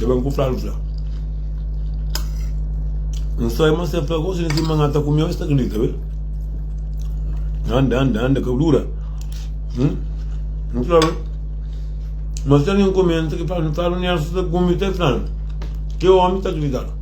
Yo ben ku flalu fla. N só irmã se fla gosto nesse mangá tá comigo está que tá vendo? Anda, anda, anda, que dura. Hum? Não sabe? Mas se alguém comenta que fala, fala, não é essa comida, tá falando. Que homem está gritando?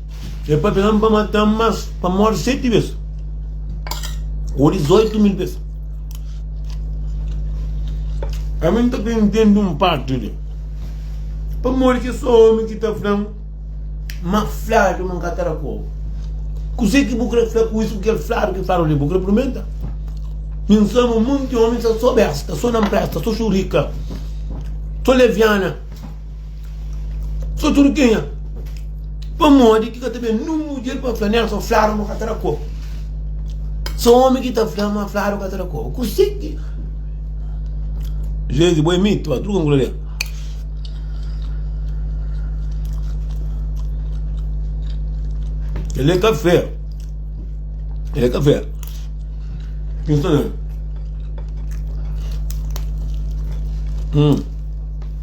E pa pega-m pa mata-m Mas pa móre seti bes Ô dizoitu mil bes Ami n ta ka intende un parti li Pamodi kes omi ki ta fla-m Ma fladu ma n ka ta da pobu Kuzê ki bu kre fla ku isu ku kel fladu ki fadu li Bu kre purmenta? Mi n sabe un monti omi sta so besta So na n presta, so xurika So leviana Só tudu kenha Pamodi ki ka ta ben nun mudjer pa fla nel Só fladu ma ka ta da kó Só omi ki ta fla ma fladu ka ta da kó Kusé ki Jezi bo é mitu ba truka ngula li El é kafé El é kafé Kin sta na Hum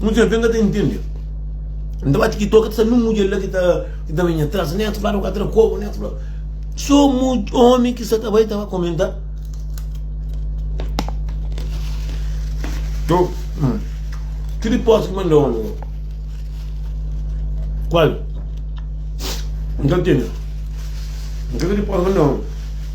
Muitos jovens ka ta intende. N ta ba TikTok, ta sa nun mudjer la ki ta ki ta venha tras nés, fla nu ka tra kobo nés, fla. So mu omi ki sa ta bai ta ba komenta. To, hum, ki riposta ki manda omi go? Kual? N ka ntende. N ka ki riposta manda omi.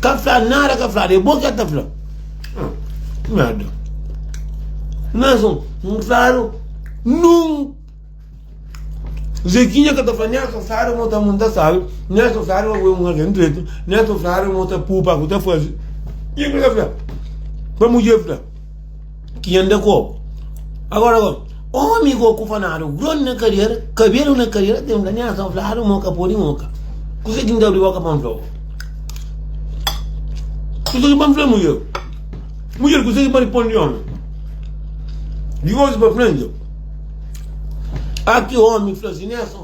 Ka fla nada ka fla nada é bo ki el ta fla nada mas un claro nun Zequinha ka ta fla nada ka fla nada mo ta mo ta sabe nada ka fla nada mo é un alguém dreito nada ka fla nada mo ta poupa ku ta fazi e el ka fla pa mudjer fla ki nha nda kobu agora kon omi go ku fa nada gron na kadiera kabelu na kadiera tem la nha son fladu mo ka podi mo ka kuzê ki nda abri boka pa n fla bo kuzê ki ba n fla mudjer mudjer kuzê ki ba responde omi di oji pa frenti aki omi fla si nha son.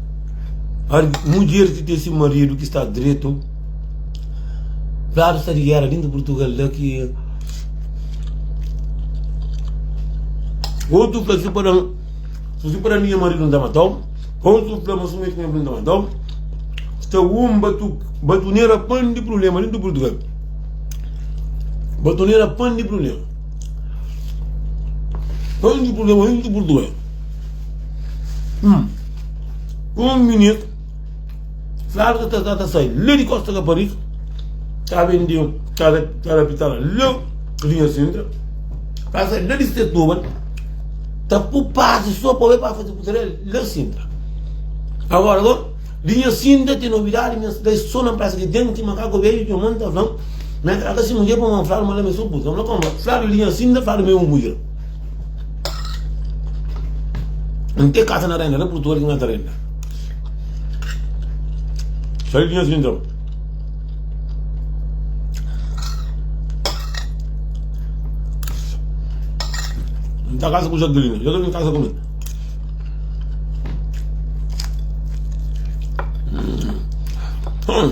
Ódi mudjer ki ten si maridu ki sta dretu Fladu sta di géra dintu di Purtugal la ki Otu fla si pa da-m Si si pa da-m nha maridu N ta mata-u Otu fla ma si nu mete nha maridu N ta mata-u Sta un batu batunera pan di prubléma dintu di Purtugal Batunera pan di prubléma Pan di prubléma dintu di Purtugal Hum Un minit, Flávio ta ta ta sai lé di Costa Caparica, ta ben di cada cada pitala lé linha Sintra, ta sai lé di Setúbal, ta pôr passe só pa ben pa fazer Putirel lé Sintra. Agora agora, linha Sintra tem novidade, minha cidade só na praça que tem, tem macaco velho, tem manta, tem, na casa se mulher para uma Flávio, mas lá me sou puto, vamos lá como, Flávio linha Sintra, Flávio me um buia. N te kasa na renda, na Purtugal ki N kasa renda. Sai di nha sinta. N ta kasa ku Jaqueline, Jaqueline kasa ku mi. Hmm.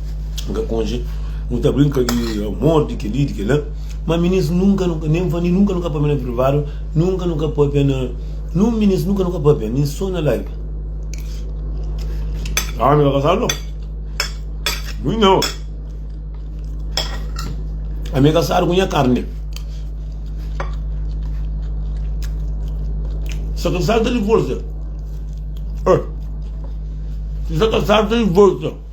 N ka konxe, nu ta brinka di amor, di kel-li, di kel-la Má minis nunka nu ka, nen N fla-m di nunka nu ka pâpia na privadu Nunka nu ka pâpia na, nun minis nunka nu ka pâpia, nen sô na live Aa mi ka kasadu nau Mui nha ôu Ami kasadu ku nha karni Sa kasadu ta divorsia Oi Sa kasadu ta divorsia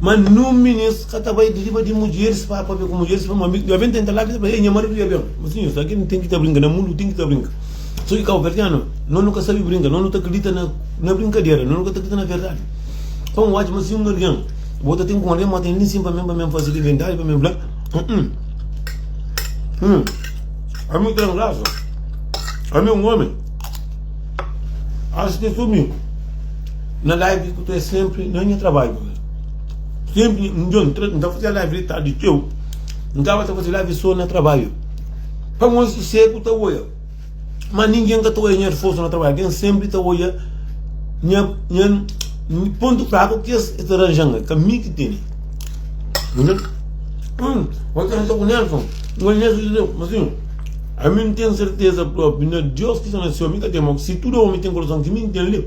Ma nun minist ka ta bai di riba di mudjeris pa pabia ku mudjeris pa mabin. Jovin tenta la ki ta fla, Ei, nha maridu dja ben. Ma sinhor, sa ki nu ten ki ta brinka? Na mundu ten ki ta brinka. So ki kauverdianu, no nu ka sabi brinka. No nu ta kridita na brinkadera, no nu ka ta kridita na verdadi. Pa un oca, ma si un algin, bo ta ten ku un algin, mostra el li sin pa mi, pa mi N fasi li bindadi, pa mi N fla, Uh-uh, uh-uh, ami ten grasa, ami un omi, acha ki es so mi. Na live ku tu é senpri na nha trabadju mi Senpri un djon tra n ta fazia live di tardi txeu N staba ta faze live so na trabadju Pamodi susegu ta oia Ma ningen ka ta oia nha sforsu na trabadju Algen senpri ta oia nha nha pontu fraku ki es ta ranja-m el Ka mi ki tene Hum Oi ta konversa ku Nelson N fala Nelson dja deu Masinhu Ami n ten serteza propi na Deus ki sta na Séu mi ka ten mau Si tudu omi ten kurason ki mi n ten li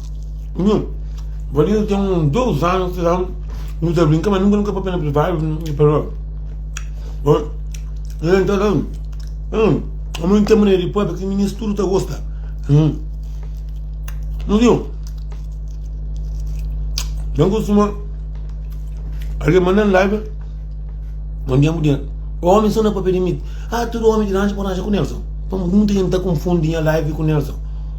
Nu, Valinha ten un dôs anu ki da nu ta brinka, ma nunka nu ka papia na privádu, el fla, Ó, el nta da, hum, amor nta mane di pâpia ki minis tudu ta gosta. Hum. Nu diu, dan ku suma, algen manda n laiba, un dia mu dia, omi so na papia di mit, ah, tudu omi di ranchu pode rancha ku Nelson. Pa mu, nunta jenti ta konfundi nha laiba ku Nelson.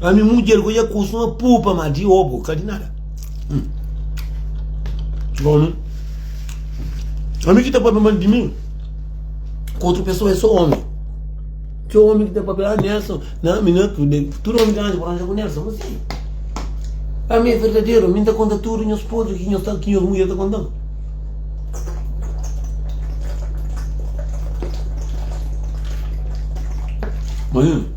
Ami mudjer ku dja kustuma pupa ma di obu ka di nada. Hum. Gomi. Ami ki ta papia mal di mi, ku outro pessoa é só homem. Que homem que tá papel, ah, Nelson, não, me não, tudo, tudo homem que anda por onde com Nelson, mas sim. A mim é verdadeiro, me dá conta tudo, meus podres, que meus tal, que meus mulher tá contando. Mas,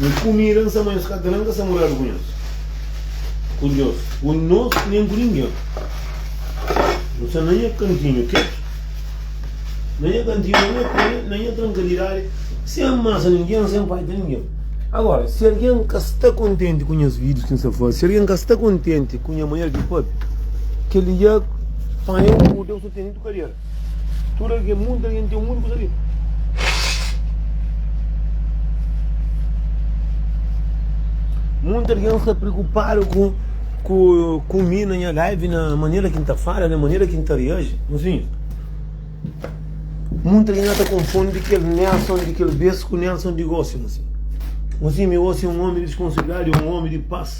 Nhos kumida N sa ma nhos ka tra N ka sta moradu ku nhos Ku nhos, ku nos, nen ku ningen N sta na nha kantinhu keti Na nha kantinhu, na nha koni, na nha trankadidadi Sen amasa ningen, sen faita ningen Agora, si algen ka sta kontenti ku nhas vídius ki N sta faze Si algen ka sta kontenti ku nha manera di faze Kel-li dja panha un kuta, un suteni, un kadeira Tudu algen, mundu algen ten mundu kusa li. Mundu algen sta preokupadu ku ku ku mi na nha live, na manera ki n ta fala, na manera ki n ta reaji. Mozinhu, mundu algen ata konfundi kel Nelson di kel bes ku Nelson di gosi, mozinhu. Mozinhu, mi gosi un omi di responsibilidadi, un omi di pas.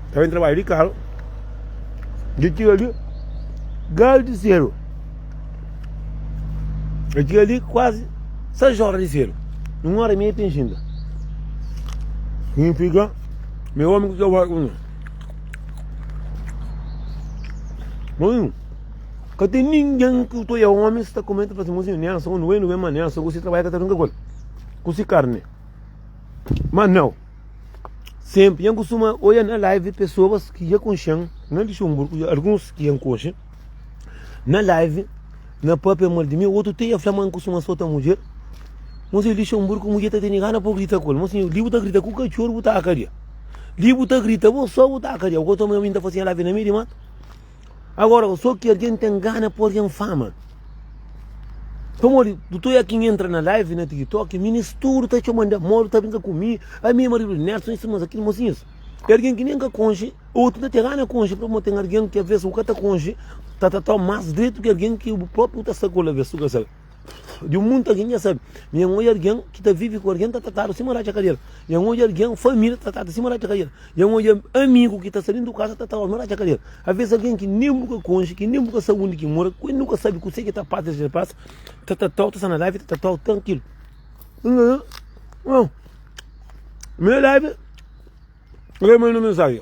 Ta ben trabadja di karu, dja txiga li galu di sedu. Dja txiga li kuazi sais ora di sedu. Un ora i meiu ten xinta. Significa mi omi ku txeu farku mi. Mozinho, ka ten ninguém ki utoi é omi si ta kumenta fla si mozinho ne ansa, un wen, wen ma ne ansa, ku si trabadja ka ta runka ku el, ku si karni. Ma nau. Senpri nhan kustuma oia na live pesoas ki nha konxan na Luxenburgu i alguns ki nha konxe na live na papia mal di mi, otu ti nha fla ma nkustuma sota mudjer. Mon si Luxenburgu mudjer ta tene gana pa bu grita ku el. Mon si li bu ta grita ku katxor bu ta akadia. Li bu ta grita bo so bu ta akadia. Bo ka toma nha mi nta fasi nha live na mei di matu. Agora, o so ki argen ten gana po argen fama. Pamodi, dutor Yakin entra na live na TikTok, minis tudo ta txoma de amor, ta brinka ku mi, a mi, marido Nelson, isso, mas aquilo, mocinhos. É alguém que nem ka conche, ou tu te gana conche, porque tem alguém que às vezes o cata conche, tá tá tá mais direito que alguém que o próprio tá sacola, vê se tu de um mundo alguém já sabe minha mãe alguém que tá vive com alguém tá tratado assim morar de cadeira minha mãe alguém família tá tratado assim morar de cadeira minha mãe amigo que tá saindo do casa tá tratado morar de cadeira às vezes alguém que nem nunca conge que nem nunca sabe onde que mora que nunca sabe o que tá passa de passa tá tratado tá na live tá tratado tranquilo não meu live lê meu mensagem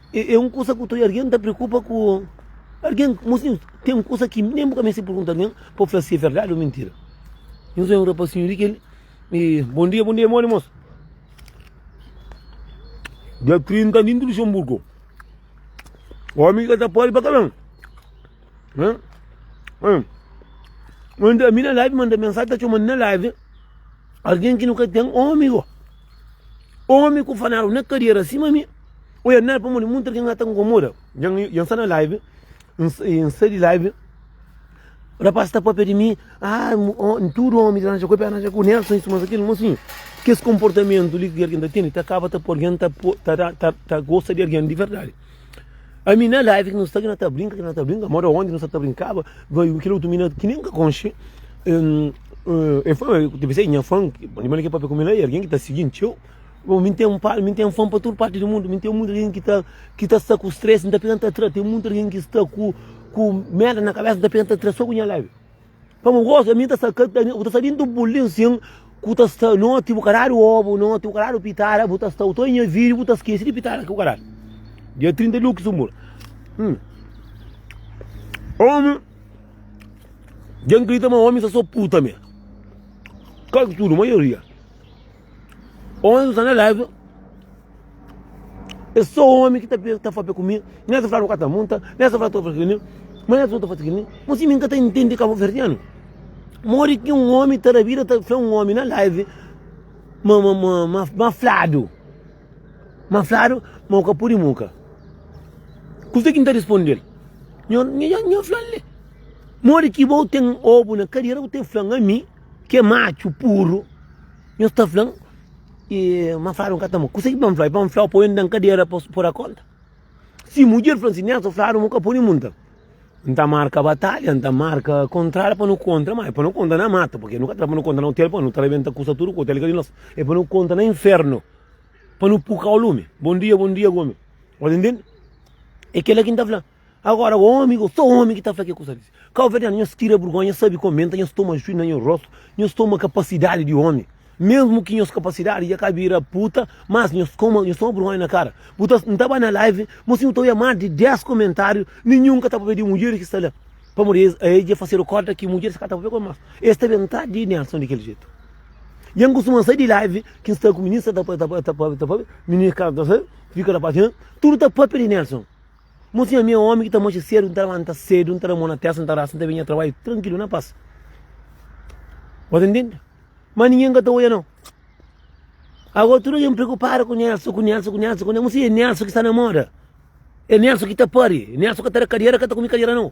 É, é un kusa ku txeu algen ta preokupa ku algen. Mosinhus, ten kusa ki nen bu ka meste pergunta algen pa bu fla si é verdadi ô mintira. Nhos ben un rapazinhu li ki el. E, bom dia, bom dia, é modi mosu? Dia 30 di Luxemburgo, omi ki ka ta pode ba ka ben. Hã? Hã? Manda mi na live, manda mensagem, ta txomando na live. Algen ki nu ka ten, ô amigo. Omi ku fanaru na kadiera sima mi, oia nel pamodi mutu algen a ta nkomoda. Dja N sta na live, N sai di live, rapaz ta papia di mi, ah tudu omi dja aranja ku el, pa el aranja ku Nelson, isu más kil. Má sim, kes konportamentu li ki algen ta tene ta kaba ta poi algen ta gosta di algen di verdadi. A mina live que nós está que nós tá brinca, que nós tá brinca, mora onde nós tá brincava, vai o que outro mina que nem conche. Um, uh, é fã, eu pensei em fã, de maneira que papai como ele é, alguém que tá seguindo eu. Bom, me tem um pai, me tem um fã para toda parte do mundo, me tem muita gente que tá que tá só com stress, não tá pegando atrás, tem muita gente que está com com merda na cabeça, não tá pegando atrás só com minha live. Pa bu gosta mi ta sta ka ta bu ta sta dentro do bulding sim ku ta sta noti bu ka dadu obu noti bu ka dadu pitara bu ta sta u ta nha vídeo bu ta skese di pitara ki bu ka dadu dia 30 de luxembourg hum omi dja n kridita ma omi sa so puta me quase tudo maioria Onzi sta na live. É só homem que tá, tá falando comigo. Nem se fala no cata monta, nem se fala tô fazendo comigo. Mas nem se fala fazendo comigo. Mas se me encanta entender cabo verdiano. Mori que um homem tá na vida, tá foi um homem na live. Ma, ma, ma, ma, ma flado. Ma flado, ma o capuri muca. Custa que não tá respondendo. Nho, nho, nho, flan, Mori que vou ter ovo na cadeira, vou ter flan a mim. Ki é matxu puru. Nhos ta fla-m ki manfladu N ka ta mo. Kuse ki pa N fla-u? É pa N fla-u poi-u na un kadera pa bu da kónta? Si mudjer fla-m sin, Nelson fladu ma bu ka pode monta. N ta marka batalha, N ta marka kontrada pa nu kontra. Má é pa nu kontra na mata, purkê nu ka ta kontra na otel, poi nu ta rebenta kusa tudu ku otel ka di nos. É pa nu kontra na infernu, pa nu purka-u lumi. Bon dia, bon dia, gómi. Bo ta intende? É kel-la ki N ta fla-m. Agora homem, ou só homem que tá fla que coisa desse. Cabo verdeano nhos tira burgonha, nhos sabe comenta, nhos toma juiz na nhos rosto, nhos toma capacidade de homem. Mesmo que nhos capacidade já cá vira puta, mas nhos coma, nhos toma burgonha na cara. Bu tá, não tá ba na live, mas sim eu tô ia mais de 10 comentário, nenhum que tá papel de mulher que está lá. Para morrer, eles, eles já fazer o corte que mulher está papel com mais. Eles também não tá de Nelson daquele jeito. E angus uma sai de live, que está com o menino, está papel, está papel, está papel, menino, cara, tá, fica na página, tudo tá papel de Nelson. Mon sinha mi é omi ki ta manxa sedu n ta lanta sedu n ta da mon na testa n ta rasa n ta ben nha trabalhu trankilu na pas bo ta ntende ma ningen ka ta oia nau ago tudu algen preokupadu ku Nelson ku Nelson ku Nelson ku Nelson mon sinha é Nelson ki sta na moda é Nelson ki ta pari Nelson ka ta da kadiera ka ta kume kadiera nau.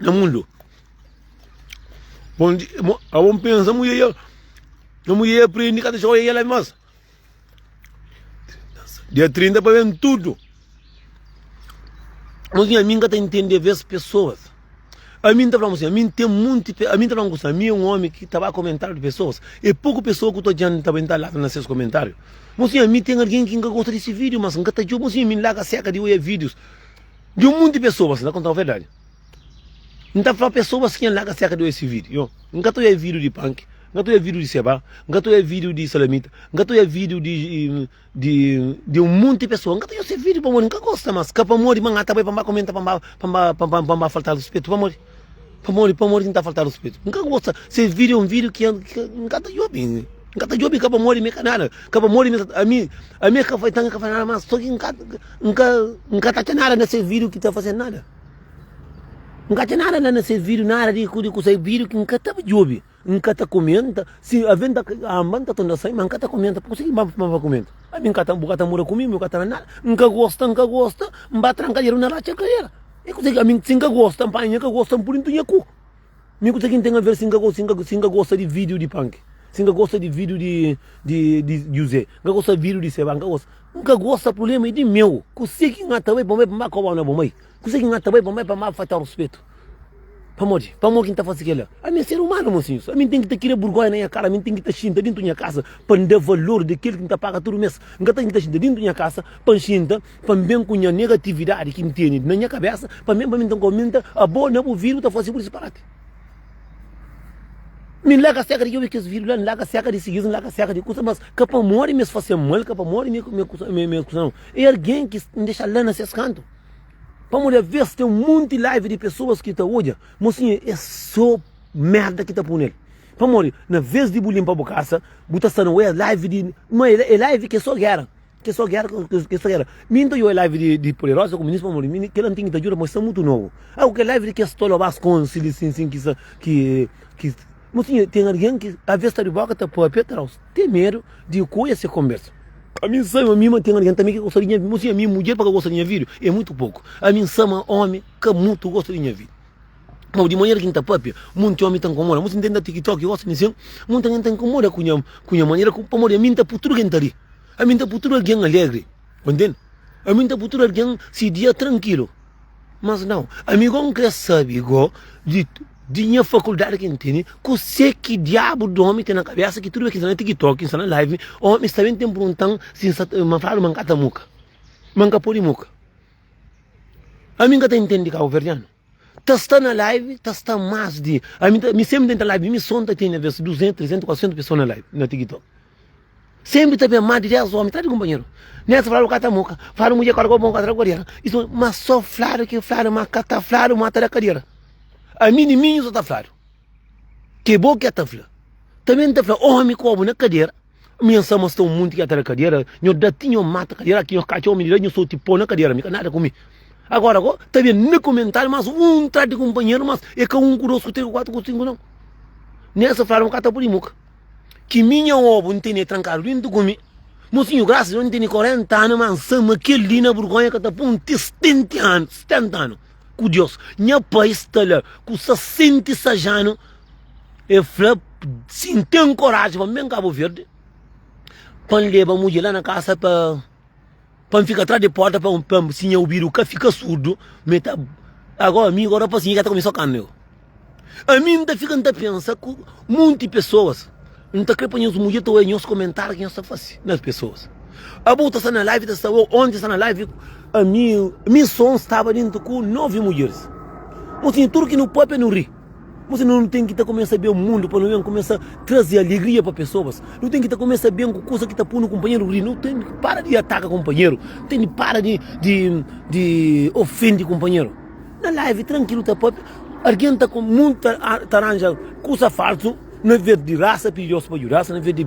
na mundu onde a bom pensa mu ia na mu ia aprende cada joia ia lá mas dia 30 para ver tudo mas a mim tem entender ver as pessoas a mim tá falando assim a mim tem muito a mim tá falando assim a mim é um homem que tava comentário de pessoas é pouco pessoa que eu tô diante também tá lá nos seus comentários mas a mim tem alguém que gosta desse vídeo mas nunca tá de mas a mim lá seca de olhar vídeos Di un monti pesoas, na kontau verdadi. N ta fla pesoas ki N laga serka di oja si vídiu. Yo, N ka ta oja vídiu di panki, N ka ta oja vídiu di sebá, N ka ta oja vídiu di salamita, N ka ta oja vídiu di di un monti pesoa. N ka ta oja se vídiu pamodi N ka gosta. Mas ka pamodi ma N ata bai pa N ba kumenta pa N ba pa N ba pa N ba faltal ruspetu, pamodi. Pamodi, pamodi ki N ta falta ruspetu? N ka gosta. Ses vídiu é un vídiu ki N ka ta djobe. N ka ta djobe, ka pamodi mi ka nada. Ka pamodi mi, ami, ami ka fai tanga, ka fai nada más. Sô ki N ka, N ka, N ka ta atxa nada na ses vídiu ki ta faze-m nada. N ka atxa nada la na ses vídiu, nada di kusa. É vídiu ki N ka ta djobe. N ka ta kumenta, si aven ta anba N ta tunda sai, ma N ka ta kumenta, pa kuse ki ma ba kumenta? Ami N ka ta, bu ka ta mora ku mi, mi ka ta na nada, N ka gosta, N ka gosta, N ba tranka kadera, N na ratxa kadera, e kuse ki ami, si N ka gosta, N panha nha ka gosta, N pudi N tunha ku, mi kuse ki N ten aver si N ka gosta, si N ka, si N ka gosta di video di panki, si N ka gosta di video di di di juzé, N ka gosta video di seba, N ka gosta, N ka gosta, prubléma é di meu, kuse ki N ata bai pa bai pa N ba koba-u na bo mai. Kuzê ki N ta bai pa mai pamodi N falta-u ruspetu? Pamodi? Pamodi ki N ta faze kel-la? Ami é ser umanu, mosinhus. Ami N ten ki ta kria burgóia na nha kara. Ami N ten ki ta xinta déntu di nha kasa pa N da valor di kel ki N ta paga tudu mês. N ka ten ki ta xinta déntu di nha kasa pa N xinta pa N ben ku nha negatividadi ki N tene na nha kabésa pa N ben pa mi. Nton, kau mi N ta abo na bu vidru ta faze bu disparati? Mi N larga seka di obi kes vidru la, N larga seka di sigi-s, N larga seka di kusa. Mas ka pamodi mi es faze-m mal, ka pamodi mi es kusa-m. É algen ki N dexa la na ses kantu. Pamodi avês ten un monti live di pesoas ki ta odja, mosinha é sô merda ki ta pô nel. Pamodi na vês di bu linpa bu kasa, bu ta sta na oi live di. Ma é live ki é sô géra, ki é sô géra, ki é sô géra. Mi N ta oi live di di Poderosa ku Minis pamodi mi kel antighu ta djuda, ma es sta mutu nobu. Agu kel live di kes tolobás konxi li sin sin ki sa ki ki. Mo sinha, ten algen ki avês sta di bóka ta pâpia traus, ten medu di ku es e konbersa. Ami N sabe ma mi mante algen tanbê ki ka gosta di nha vida. Mo sinha, ami mudjer pa ka gosta di nha vida é mutu poku. Ami N sa ma ómi ka mutu gosta di nha vida. Mau di manera ki N ta pâpia, monti ómi ta nkomoda. Mo si N ta inda TikTok ki gosta di sen, monti algen ta nkomoda ku nha ku nha manera ku pamodi ami N ta pui tudu algen ta ri. Ami N ta pui tudu algen alegri. Bu intende? Ami N ta pui tudu algen se dia trankilu. Mas nau, ami go N kre sabi go di di nha fakuldadi ki N tene, kuse ki diabu di omi ten na kabesa ki tudu bes ki N sta na tiktok, N sta na live, omi sta ben ta N pruntan si N sta ta ma faladu ma N ka ta muka, ma N ka podi muka. Ami N ka ta intendi kabuverdianu, ta sta na live ta sta mas di ami ta mi sempri N ta live mi so N ta tene bes 200, 300, 400 pesoa na live na tiktok. Senpri ta ben más di 10 ómi, tradu kunpanheru. Nel ta fladu ka ta moka, fladu mudjer kóda kó bon ka ta da kodera. I son, ma so fladu ki fladu, ma ka ta fladu ma ta da kadera. Ami ni minhu so ta fladu. Ke bo ke ta fla? Ta ben ta fla ómi kó bu na kadera. Mi nha sa ma sta un munti ke ta da kadera, nho da ti nho mata kadera ki nho katxa ómi di la nho so ti po na kadera mi ka nada ku mi. Agora kó ta ben na komentadu más un tradu kunpanheru más e ka un ku dos ku tres ku kuatu ku sinku non. Nel sa fladu ma ka ta pudi moka. Ki mi nha obu n tene trankadu dentu ku mi Mosinhu grasas Deus n tene 40 anu ma n sa ma kel li na burgonha ka ta pô un ti 70 anu 70 anu ku Deus nha pai sta la ku 66 anu e fla si n ten koraji pa n ben kabuverde pa n leba mudje la na kasa pa Pa N fika tras di porta pa N pa-m si nha ubidu ka fika surdu ma e ta Ago ami ago rapaz nha ka ta kumesa kama eu Ami N ta fika N ta pensa ku munti pesoas N ta kre pa nhas mudjer ta oia nhos komentariu ki nhos ta fase na pesoas Abo ta sta na live ta sta ou onti sta na live Ami mi son staba dentu ku novi mudjeris Nho tinha tudu ki nu papia nu ri. Mos nu ten ki ta kumesa ben mundu pa nu ben kumesa traze alegria pa pesoas. Nu ten ki ta kumesa ben ku kuza ki ta pô nu kunpanheru ri. Nu ten ki para di ataka kunpanheru. Nu ten ki para di di di ofende kunpanheru. Na live trankilu ta papia, algen ta mundu ta aranja kuza falsu na ves di rasa pidi Deus pa djuda-s na ves di.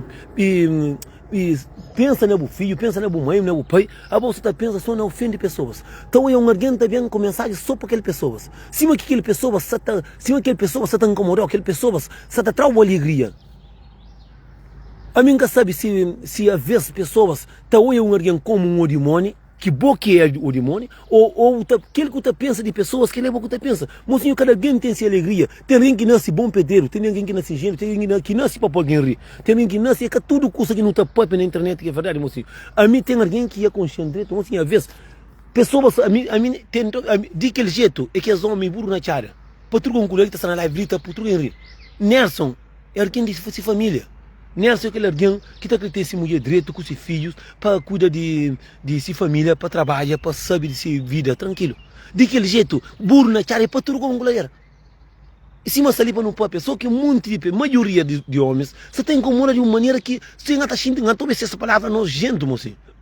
E pensa na bu fidju, pensa na bu mai, na bu pai, abo sta ta pensa so na ofende pesoas. Ta oia un argen ta ben ku mensaji so pa kel pesoas, sima ki kel pesoas sa ta, sima kel pesoas sa ta nkomodau, kel pesoas sa ta tra-u alegria. Ami N ka sabi si, si avês pesoas ta oia un argen komu un odimoni. Ki bo ki é o dimoni? O o u ta kel ki u ta pensa di pesoas kel é bo ku ta pensa? Mosinhu kada algen ten si alegria, ten algen ki nasi bon pederu, ten algen ki nasi ingenu, ten algen ki na ki nasi pa po algen ri, ten algen ki nasi é ka tudu kusa ki nu ta papia na internet ki é verdadi mosinhu, ami ten algen ki ia konxen dretu mosinhu avês pesoas ami ami ten to ami di kel jetu é ki es omi buru na txada patruka un kula li ta sta na live li ta putruka en ri Nerson. É algen di se família. Nelson é kel algen ki ta krê ten se mudjer dretu ku se fidjus pa kuida di se família, pa trabadja, pa sabe di se vida trankilu. Di kel jetu, buru na txada é paturgon ku lader. I sima sta li pa nu pâpia, sô ki monti di pé, maioria di ômis, sta ta inkomoda di un manera ki se N ka ta xinti, N ka ta obi ses palavra nojéntu, mon senhor.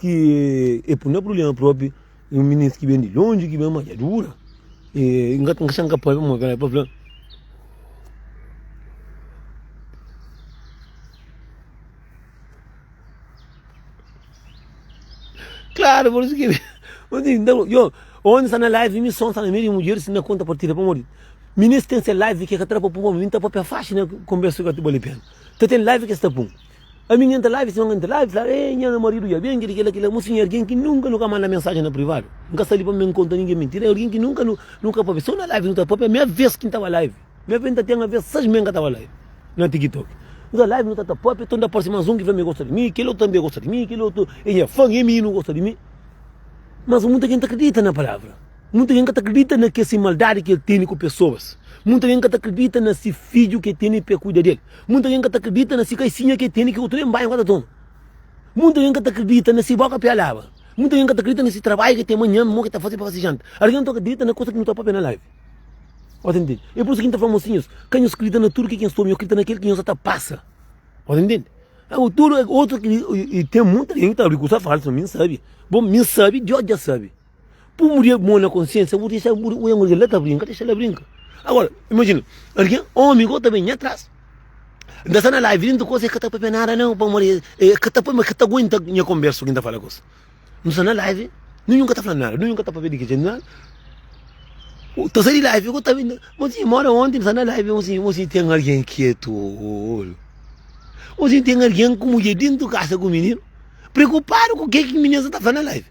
ki e pui na prubléma própi e un minis ki ben di lonji ki ben manjadura e n ka sai n ka pâpia môs pa fla. Klaru pur isu ki ómi sta na live mi son sta na meiu di mudjeris n na konta partida pamodi di minis ten se live ki e ka ta da pa pun pamodi mi n ta pâpia faxi na konbérsu ki ka ta bali pena ta ten live ki es ta pun Ami nha nta live, si algen nta live fla, Ei, nha marido dja ben, kel-li, kel-la, kel-la. Musu, nha algen ki nunka nu ka manda mensajen na privadu. N ka sta li pa mi ben konta ningen mintira. Nha algen ki nunka nu nu ka papia. So na live nu ta papia. Mia ves ki N tava live. Mia ves N ta ten a ves sais mei N ka tava live na TikTok. Nu ta live nu ta ta papia, tonde aparsi mas un ki fla ma e gosta di mi, kel otu tanbe gosta di mi, kel otu e nha fan, e mi nu gosta di mi. Mas mutu algen ta kridita na palavra. Mutu algen ka ta kridita na ke si maldadi ki el tene ku pesoas. Mutu algen ka ta kridita na si fidju ke tene pa e kuida del. Munta gen ka ta kridita na si kaisinha ke tene ki otu ben bai ka ta toma. Munta gen ka ta kridita na si boka pia laba. Munta gen ka ta kridita na si trabayu ke ten manha mo ke ta fase pa fase janta. Algen tua ka kridita na kusa ki nu ta papia na live. O ta ntende? E por isu ki N ta fla mosinhus, ka nhos kridita na tudu ke ki nhos ta obi, nhos kridita na kel ki nhos sa ta pasa. O ta ntende? Agu tudu otu, i ten munta gen ki ta abri kusa falsu. Mi N sabi. Bo, mi N sabi, Dios dja sabi. Pum di mon na konsiensia, bu disa bu uia un algen la ta brinka, disa la brinka. Agora, imagina, algen omi go ta ben nha tras, N ta sta na live li, N ta gosi e ka ta papia nada nau, pamodi e e ka ta papia, e ka ta guenta nha kombersa ku N ta fala gosi. Nu sta na live, ninhun ka ta fla nada, ninhun ka ta papia di kidje, nada. Bu ta sai di live go ta ben, Mon sinhe, mó da onti N sta na live, mon sinhe, mon sinhe ten algen ki e tolu. Mon sinhe ten algen ku mudjer dentu kasa ku mininu, preokupadu ku ke ki mininu sa ta fla na live.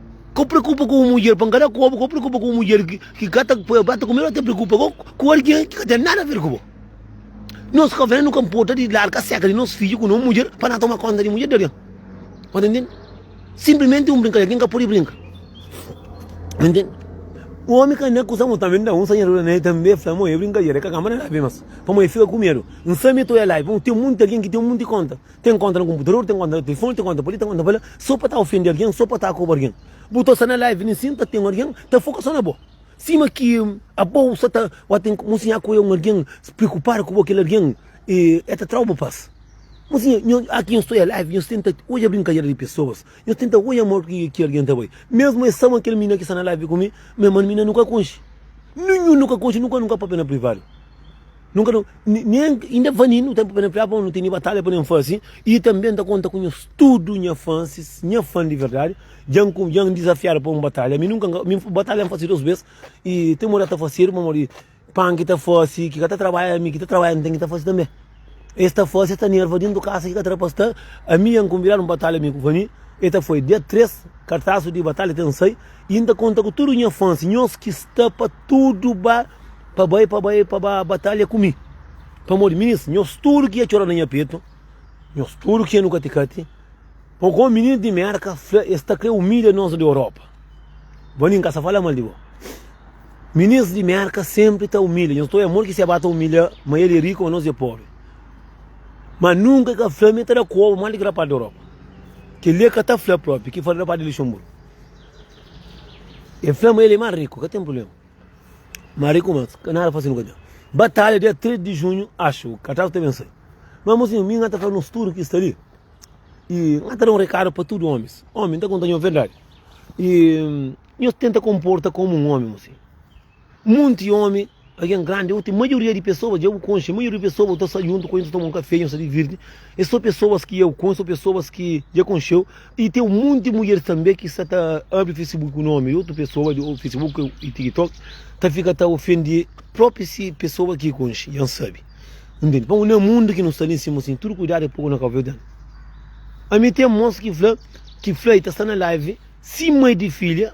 Ka preokupa ku un mudjer pa N ka da kobu, ka preokupa ku un mudjer ki ka ta poi prata ku mi, ola ta preokupa ka ku algen ki ka ten nada a ver ku bo. Nos kavén nu ka nporta di larga seka di nos fidju ku nos mudjer pa na toma konta di mudjer di algen. Bu ta ntende? Sinplimenti un brinkadera ki N ka pudi brinka. Bu ntende? Omi ka na kusa, mo tanbê N da un sanhadura na el tanbê, fla, Mo, é brinkadera, el ka kanba na la bê mas, pamodi el fika ku medu. N sabe ma el ta oja la i fla, Ten munti algen ki ten munti konta. Ten konta na konputador, ten konta na telefoni, ten konta pa li, ten konta pa la, so pa ta ofende algen, so pa ta akoba algen. Bu ta sta na live nin sin ta ten algen ta foka so na bo. Sima ki abo sa ta wa ten mo sin akoia un algen preokupadu ku bo kel algen e ta trau bo pas. Mo sin aki nhos ta oia live nhos tenta oia brinkadera di pesoas, nhos tenta oia modi ki ki algen ta bai. Mesmu e sama kel mina ki sta na live ku mi, mi mane mina nu ka konxe. Ninhun nu ka konxe, nu ka nu ka papia na privadu. Nunka nu nen inda fani nu ten pupena priá pa nu tene batalha pa nen fasi i tanbe nta konta ku nhos tudu nha fansis nha fan di verdadi dja nku dja ndizafiadu pa un batalha mi nunka nka mi batalha nfasi dos bes i ten modi ata fasedu pamodi di pan ki ta fasi ki ka ta trabalha mi ki ta trabalha ntende ta fasi tanbe es ta fasi es ta nerva dentu kasa ki ka ta rapaz sta ami nha nkunvidadu nbatalha mi ku fani e ta foi dia 3 kartasu di batalha ten sai I N ta konta ku tudu nha fans, nhos ki sta pa tudu ba, pa bai, pa bai, pa ba batalha ku mi. Pamodi minis, nhos tudu ki ia txora na nha petu, nhos tudu ki ia nu kati-kati, pô kó minis di Mérka, fla es ta krê umilha nos di Europa. Bo nin ka sa fala mal di bo. Minis di Mérka senpri ta umilha nhos, too é amor ki se ba ta umilha ma el é riku ma nos é pobi. Ma nunka el ka fla ma el ta da koba mal di ki rapaz di Europa. Kel-li el ka ta fla propi, ki fla di rapaz di Luxenburgu. E fla ma el e más riku, ka ten prubléma. Má riku más, ka nada fásil nu ka ten. Batalha, dia 3 di junhu, axu, Cartago ta ben sai. Má, mozinhu, mi N ta fla nos tudu ki sta li, i N ta da un rekadu pa tudu ómis. Ómi, N ta konta-nho verdadi. I nhos tenta konporta komu un ómi, mozinhu. Monti ómi, algen grandi ô ti maioria di pesoas dja bu konxe. Maioria di pesoas bu ta sta djuntu ku el, nhos ta toma un kafé, nhos ta divirti. Es sô pesoas ki eu konxe ô pesoas ki dja konxe-u. I ten un monti mudjeris tanbê ki sta ta abri Facebook ku nómi di otu pesoas. Djobe Facebook i TikTok ta fika ta ofende própi si pesoas ki konxe. Dja N sabe. Nu ntende. Pamodi na mundu ki nu sta li, nsima sin, tudu kuidadu é poku na Kábu Verdianu. Ami ten mos ki fla ki fla i ta sta na live sima di filha.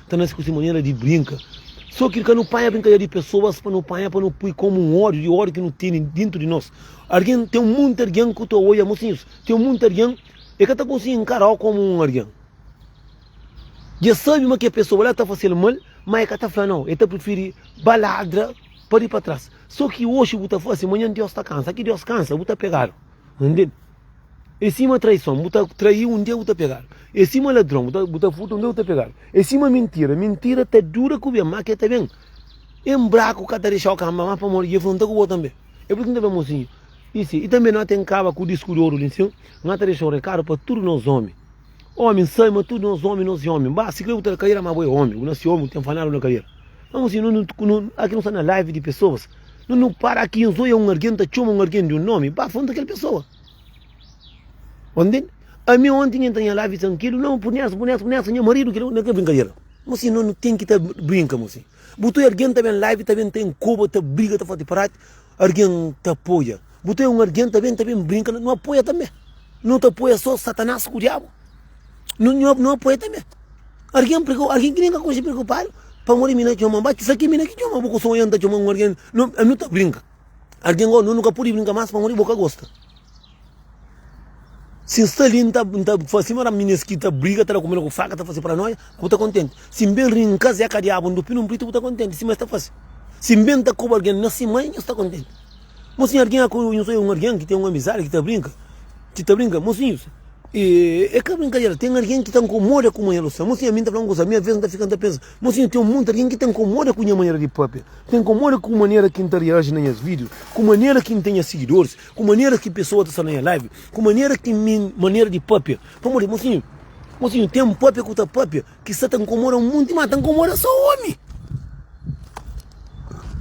Ta nase ku se manera di brinka. Só ki ka nu panha brinkadera di pesoas pa nu panha, pa nu pui komu un ódio di ódio ki nu tene dintu di nos. Argen, ten un monti argen ku ta oia, mosinhus, ten un monti argen e ka ta konsigi nkara-u komu un argen. Dja sabi ma kel pesoa la ta fase-l mal, ma e ka ta fla nau, e ta prifiri ba ladra pa di pa tras. Só ki oxi bu ta fase, manhan Dios ta kansa. Ki Dios kansa, bu ta pegadu. N tende? É sima traison, bu ta traí un dia bu ta pegadu. É sima ladron, bu ta bu ta furta un dia bu ta pegadu. É sima mintira, mintira ta dura ku ben, má ke ta ben. En braku ka ta dexau kanba má pamodi dje fronta ku bo tanbe. É pur isu ki N ta fla mosinhu. I si, i tanbe no ten kaba ku disku di oru li nsin, no ta dexau rekadu pa tudu nos omi. Omi sai ma tudo nos omi nos é omi ba si kre bu ta na cadeira ma bo é omi bu na si omi bu tem fanado na cadeira ma mo si no no aqui no sta na live de pessoas no no para aqui nos oia um alguém ta choma um alguém de um nome ba fonta aquele pessoa ontem a mi ontem me entra em live sem aquilo não por nessa por nessa por nessa minha marido que não quer brincadeira mo si no no tem que ta brinca mo si bu tu alguém ta bem live ta bem tem cuba ta briga ta fazer prato Argen ta apoia bu ta é un argen ta ben ta ben brinka na nu apoia tanbe nu ta apoia so satanas ku diabu nu nu apoia tanbe argen preko argen ki nen ka konxe prekupadu pamodi mi na txoma ba kisa ki mi na ki txoma bu ku sonha n ta txoma un argen nu ami nu ta brinka argen gou nu nu ka pudi brinka mas pamodi bo ka gosta Si N sta li, N ta fla sima Rabi, Minês ki ta briga, ta da kumida ku faka, ta fase paranóia, bu ta kontenti? Si N ben ri-m kazé ka diabu, N dupi nun pritu, bu ta kontenti? Sima es ta fase. Si N ben ta koba algen na si mai, nhos ta kontenti? Mosinhu, algen â koba nhos oi un algen ki ten un amizadi, ki ta brinka? Ki ta brinka? Mosinhus, e ka brinkadera, ten algen ki ta nkomoda kuma nhel sta. Mosinhu, ami N ta fla un kuza, mi aves N ta fika N ta pensa, mosinhu, ten monti algen ki ta nkomoda ku nha manera di pâpia, ta nkomoda ku manera ki N ta reaji na nhas vídiu, ku manera ki N ta nha sigidoris, Ku manera ki pesoa ta sta na nha live, ku manera ki mi manera di papia. Pamodi mosinhu, mosinhu ten un papia ku ta papia ki sta ta nkomoda monti, ma ta nkomoda so omi.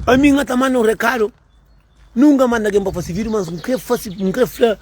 Ami nha ta manda un rekadu, nunka manda algen pa fase video, mas n kre fase, n kre fla,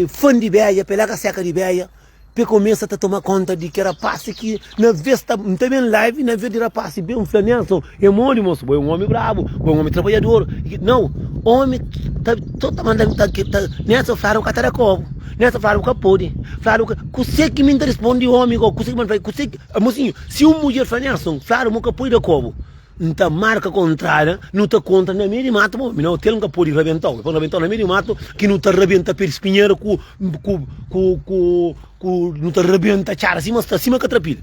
fan di beja, pela ka seka di beja. Pe komesa ta toma konta di ke rapasi ki na ves ta N ta ben live na ves di rapasi ben fla Nelson e modi moso bo e un omi brabu bo e un omi trabadjador i ke nau omi ta so ta manda ta ke ta Nelson fladu bu ka ta da kobu Nelson fladu bu ka podi fladu bu ka kuse ki mi N ta rispondi omi go kuse ki bo N ta fazi kuse ki mosinho si un mudjer fla Nelson fladu mo ka podi da kobu. N ta marka kontrada, nu ta kontra na mei di matu, bo, mi na otel N ka podi rabentau, pa N rabentau na mei di matu, ki nu ta rabenta pe di spinheru ku, ku, ku, ku, ku, nu ta rabenta txada sima, sta sima katrapila.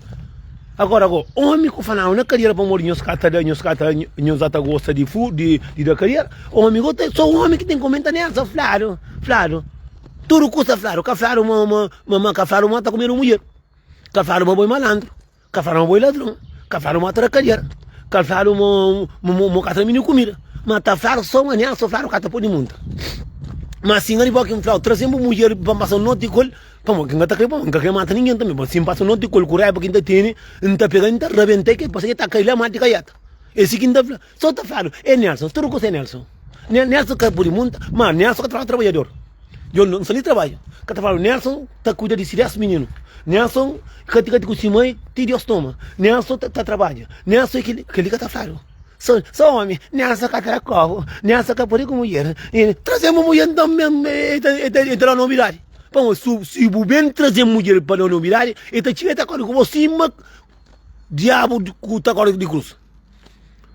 Agora, go, omi ku fanau na kadiera pamodi nhos ka ta da, nhos ka ta, nhos a ta gosta di fu, di, di da kadiera, omi go ta, so omi ki ten komenta nel, sa fladu, fladu, tudu kusa fladu, ka fladu ma, ma, ma, ma, ka fladu ma ta kumedu mudjer, ka fladu ma bo e malandru. Ka fala ma bo é ladron, ka fala ma tra kadiera, ka fala ma mo ka tra mini kumida, ma ta fala so ma nia so fala ka ta podi monta. Ma si ngari bo ki nflau trazen bu mudjer pa npasa noti kol, pamo ki ngata kre pamo, nka kre mata ningen tambe, ma si npasa noti kol ku raiba ki nta tene, nta pega nta rabentel kel pase ke ta kai la mati kaiata, é si ki nta fla. Só ta fladu é Nelson, tudu kusa é Nelson. Nelson ka pudi munta, ma Nelson ka ta fladu trabadjador. Djon no fazê trabadju, ka ta fladu Nelson ta kuida di si dés mininu. Nelson ka ti ku si mai ti Deus toma. Nelson ta trabadja, Nelson é kili, kili ka ta fladu. Só omi, Nelson ka tra kobu, Nelson ka pudi ku mudjer. Trazê bu mudjer nton mesmu, e ta da nobidadi. Pamodi si bu ben trazê mudjer pa da nobidadi, e ta txiga, e ta korda ku bo sima diabu ku ta korda di krus.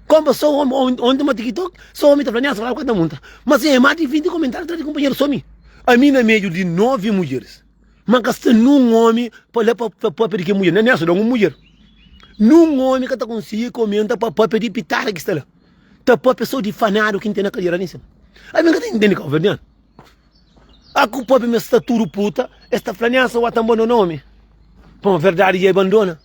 Kompa, so omi, onti ma tiktok, so omi ta fla niasa, fla ku el ta monta. Ma si e mati 20 komentáriu atrás di kunpanheru so mi. Ami na mediu di 9 mudjeris, ma ka sta niun omi pa la pa papia di kel mudjer, na niasa don un mudjer. Niun omi ka ta konsigi komenta pa papia di pitada ki sta la, ta papia so di fanadu ki N ten na kadera la en sima. Ami N ka ta intendi kabuverdianu. A ku papia mi es sta tudu puta, es ta fla niasa, wa ta bandona omi. Pamodi verdadi dja e bandona.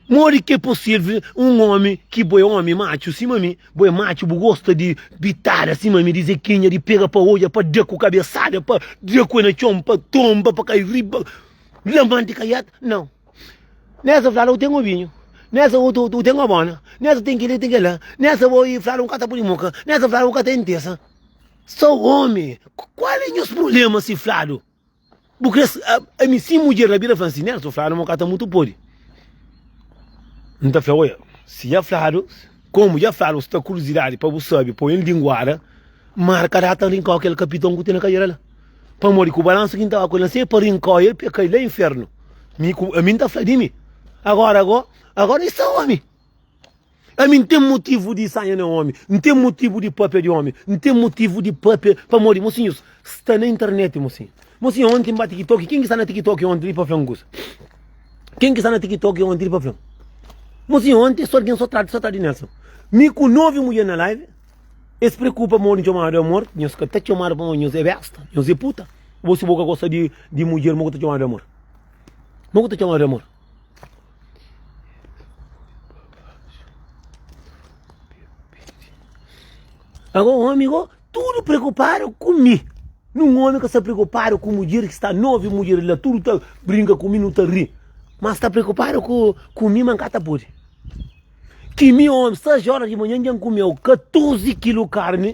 Modi ki é possível un omi ki bo é omi matxu sima mi, bo é matxu, bu gosta di bitada sima mi, di zequinha, di pega pa odja, pa da ku kabesada, pa da ku e na txon, pa tonba, pa kai riba, lamante kaiat, nau. Nessa fladu ten obinhu, nessa u ten obona, nessa ten kila, ten kila, nessa bo i fladu un ka ta pudi muka, nessa fladu u ka ta intesa. Sou omi, kual é nhos problema si fladu? Bu kre ami si mudjer na bira fla si Nelson fladu mo ka ta mutu podi nta fla oia si ja fladu komu ja fladu sta kurizidadi pa bu sabi poi el dinguada marka data n rinkau kel kapiton ku ten na kadera la pamodi ku balansu ki n ta ba ku el la se pa rinkau el pia kai la infernu mi ku ami n ta fla di mi agora go agora i sta omi. Ami N ten motivu di sanha na omi, N ten motivu di papia di omi, N ten motivu di papia pamodi mosinhus sta na internet mosinha. Mosinha onti N ba tikitoki, ken ki sta na tikitoki onti li pa fla-m kusa? Ken ki sta na tikitoki onti li pa fla-m? Mosinha onti es algen so trata, so trata di Nelson. Mi ku novi mudjer na live, es preokupa pamodi N txomadu amor, nhos ka ta txomadu pamodi nhos e besta, nhos e puta. Bo si bo ka gosta di mudjer, mo ku ta txomadu amor? Mo ku ta txomadu amor? Ago omi go tudu preokupadu ku mi. Nun omi ka sta preokupadu ku mudjer ki sta novi mudjer la tudu ta brinka ku mi nu ta ri. Ma sta preokupadu ku mi ma n ka ta pudi. Ki mi omi 6 óra di manhan dja n kumeu 14 kilu karni.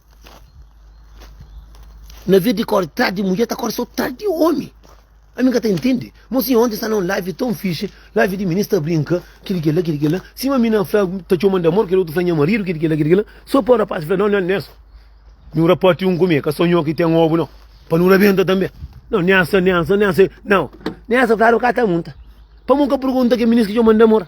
Na vez di kore tardi mudjer ta kore so tardi omi. Ami ka ta entende. Mo si onti sta na un live ton fixe, live di minis ta brinka, kil ki la, kil ki la. Sima mi na fla ta txoman di amor, kel otu fla nha maridu, kil ki la, kil ki la. So pa rapaz fla, non, non, nen esa. Nhu rapati un ku mi, ka so nho ki ten obu non. Pa nu rabenta tanbe. Non, nen esa, nen esa, nen esa. Non, nen esa fla, aro ka ta munta. Pa mon ka pergunta ke minis ki txoman di amor.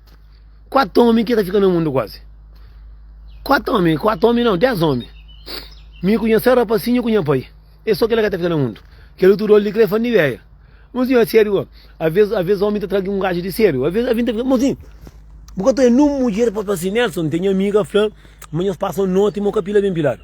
4 omi ki ta fika na mundu kuazi. 4 omi, 4 omi não, 10 omi. Mi ku nha sara pasinho ku nha pai. É só kela ka ta fika na mundu. Kela tudo olho de crê fandi véia. Mozinho, a sério, ó. Às vezes, às vezes omi ta tragi um gajo de sério. Às vezes, a vinda, mozinho, bu ka ta é num mulher pa assim, Nelson, tem amiga fla, mas nós passa noite, mo ka pila bem pilado.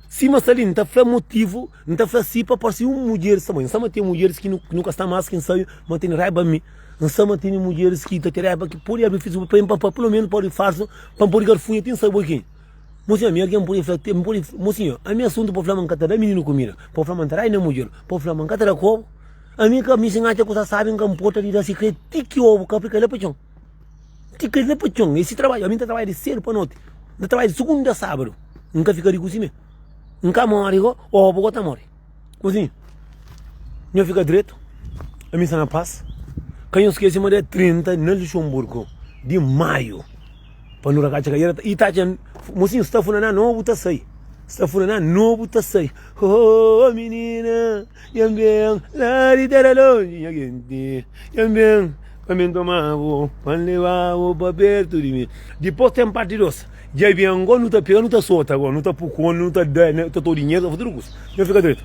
Sim, mas ali, não tá fla motivo, não tá fla si pa parsi um mulher, sa mãe, sa ma tem mulheres que nu, nu ka sta mais que ensaio, mas tem raiba mi. N sa ma tene mudjeris ki ta kreba ki pode abri Facebook pa N pa pulomenu pode farsu pa N pode garfuia ti N sai bo ki. Mo sinha, mi algen pode fla N pode mo sinha, ami asuntu pa fla ma N ka ta da mininu kumida, pa fla ma N ta da i na mudjer, pa fla ma N ka ta da ku obu. Ami ka mi si N atxa kusa sabi N ka nporta di da sikretu ti ki obu ka fika la pa txon. Ti ka la pa txon. E si trabadju. Ami N ta trabadja di sedu pa noti. N ta trabadja di sugunda a sabadu. N ka fika riku simé. N ka mori go, obu go ta mori. Kuzi, nho fika dretu, ami sta na pas. Ka nho skese ma dia 30 na Luxemburgo di maiu, pa nu rakaca ka era ta, i ta atxa mosinhu sta funa na no bu ta sai, sta funa na no bu ta sai, oh oh minina nham ben la di tera lonji nha genti nham ben pa mi toma bu pa lebabu pa pertu di mi dipos ten parti dos. Dja ben, agora nu ta pega, nu ta sota agora, nu ta pukon, nu ta da, nu ta to dinheru, ta faze tudu kusa. Nhos fika dretu.